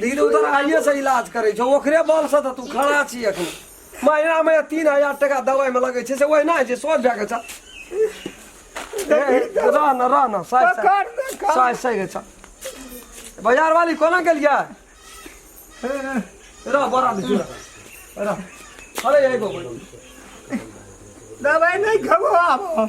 धीरे उधर आइए से इलाज करे छो ओकरे बल से तो तू खड़ा छी अखन महीना में तीन हजार टका दवाई में लगे छे से ओहिना होइ छै सोच भए गेल छ रह न रह न साइ साइ पकड़ दे खा। साइ साइ गेल छ बाजार वाली कोना गेलियै रह बड़ा दे रह अरे एगो बोल दवाई नहीं खबो आबो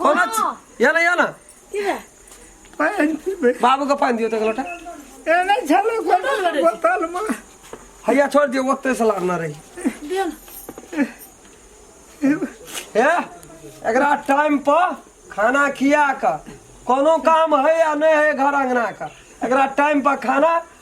कौन अच्छी या ना या ना पानी पीबे बाबू का पानी दियो तक लोटा ए नहीं छलो कोई बोतल में हैया छोड़ दियो वक्त से लागना रही दियो ना है एकरा टाइम पर खाना खिया का कोनो काम है या नहीं है घर अंगना का एकरा टाइम पर खाना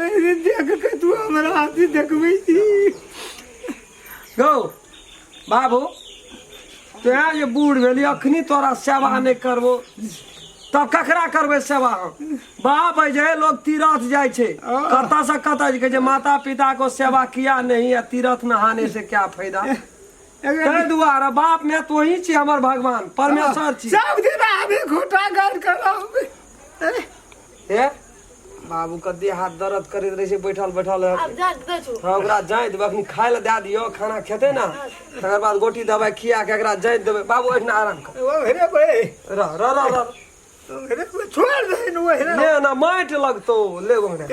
अरे देख के तू हमरा हाथी देखबै छी गौ बाबू तोरा जे बूढ़ भेली अखनी तोरा सेवा नहि करबो तब ककरा करबै सेवा हम बाप है जे लोग तीरथ जाइ छै कतऽ से कतऽ जे कहै छै माता पिता को सेवा किया नहीं है तीरथ नहाने से क्या फायदा ताहि दुआरे बाप मैं तो ही छी हमर भगवान परमेश्वर छी सब दिन आबी घोटा गाड़ करब हे बाबू कते हाथ दर्द करैत रहै छै बैठल बैठल आब जा दे छु हँ ओकरा जाँति देबै अखन खाय लए दए दियौ खाना खेतै ने तकर बाद गोटी दबाइ खिया के एकरा जाँति देबै बाबू ओहिना आराम कर ओ हेरे बे रह रह रह रह ओ हेरे बे छोड़ दे न ओ हेरे ने ना माटि लगतौ ले ओकरा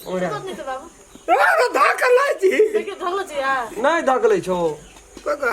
ओकरा कत नै त बाबु अरे धाक लाई छी देखियो ढल्लो छ या नहि धकलै छौ कका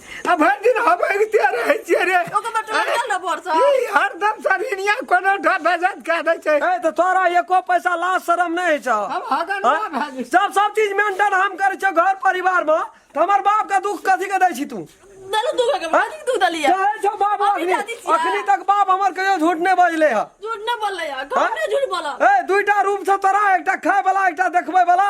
आ भरि दिन हम अगिते रहै छियै रे ओकर बटुआ अरे, गेल ने भोर से। ई हरदम सरिनिया कोनो ढ भेजत कऽ दै छै ए तो तोरा एको पैसा लाज शरम नहीं छ हम हगन ना भेजै सब सब चीज मेंटेन हम करे छ घर परिवार में तो हमर बाप का दुख कथी के दै छी तू देलू दूध के बाद दूध दलिया चाहे छो बाप अभी अखनी दादी छियै। अखनी तक बाप हमर कहियो झूठ नहीं बजले है झूठ ना बोलले यार घर में झूठ बोला ए दुईटा रूम से तोरा एकटा खाय वाला एकटा देखबे वाला